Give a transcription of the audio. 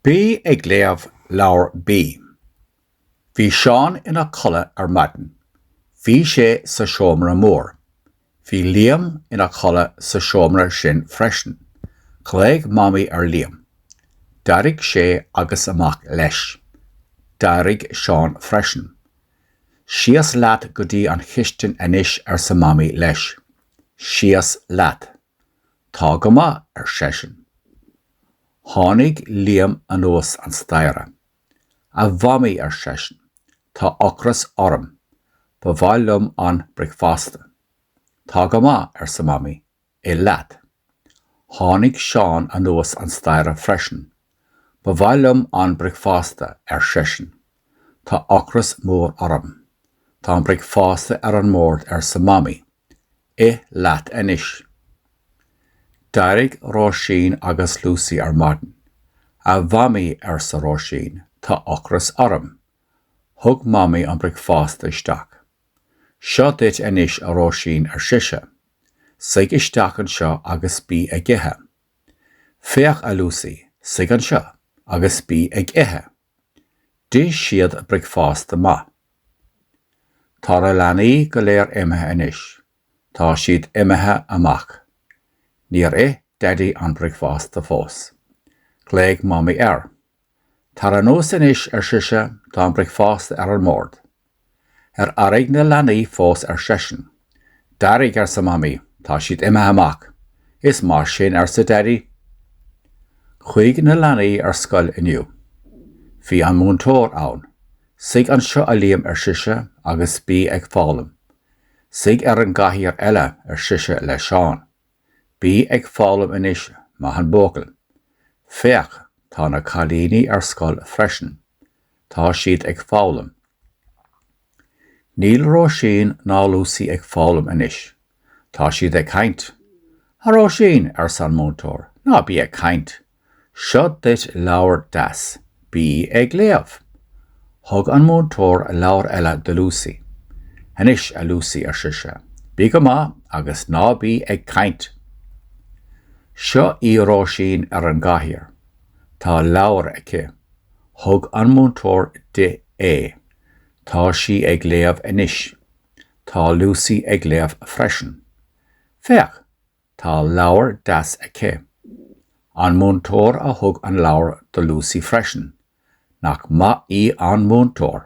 Bí ag léamh leabhar B. Bhí Seán ina chodladh ar maidin. Bhí sé sa seomra mór. Bhí Liam ina chodladh sa seomra sin freisin. Ghlaoigh Mamaí ar Liam. D'éirigh sé agus amach leis. D'éirigh Seán freisin. Síos leat go dtí an chistin anois arsa Mamaí leis. Síos leat. Tá go maith, ar seisean. Tháinig Liam anuas an staighre. A Mhamaí, ar seisean, tá ocras orm. Ba mhaith liom an bricfeasta. Tá go maith, arsa Mamaí, ith leat. Tháinig Seán anuas an staighre freisin. Ba mhaith liom an bricfeasta, ar seisean. Tá ocras mór orm. Tá an bricfeasta ar an mbord, arsa Mamaí. Ith leat anois. D'éirigh Róisín agus Lúsaí ar maidin. A Mhamaí, arsa Róisín, tá ocras orm. Thug Mamaí an bricfeasta isteach. Seo duit anois, a Róisín, ar sise. Suigh isteach anseo agus bí ag ithe. Féach, a Lúsaí, suigh anseo agus bí ag ithe. D'ith siad bricfeasta maith. Tá na leanaí go léir imithe anois. Tá siad imithe amach. Níor ith Daidí an bricfeasta fós. Ghlaoigh Mamaí air. Tar anuas anois, ar sise, tá an bricfeasta ar an mbord. Ar éirigh na leanaí fós ar seisean. D'éirigh arsa Mamaí, tá siad imithe amach. Is maith sin arsa Daidí. Chuaigh na leanaí ar scoil inniu. Bhí an múinteoir ann. Suigh anseo a Liam ar sise agus bí ag foghlaim. Suigh ar an gcathaoir eile ar sise le Seán. Bí ag foghlaim anois, maith an buachaill. Féach, tá na cailíní ar scoil freisin. Tá siad ag foghlaim. Níl Róisín ná Lúsaí ag foghlaim anois. Tá siad ag caint. A Róisín, arsa an múinteoir, ná bí ag caint. Seo duit leabhar deas. Bí ag léamh. Thug an múinteoir leabhar eile do Lúsaí. Anois, a Lúsaí, ar sise, bí go maith agus ná bí ag caint. Seo í Róisín ar an gcathaoir. Tá leabhar aici. Thug an múinteoir di é. Tá sí ag léamh anois. Tá Lúsaí ag léamh freisin. Féach! Tá leabhar deas aici. An múinteoir a thug an leabhar do Lúsaí freisin. Nach maith í an múinteoir!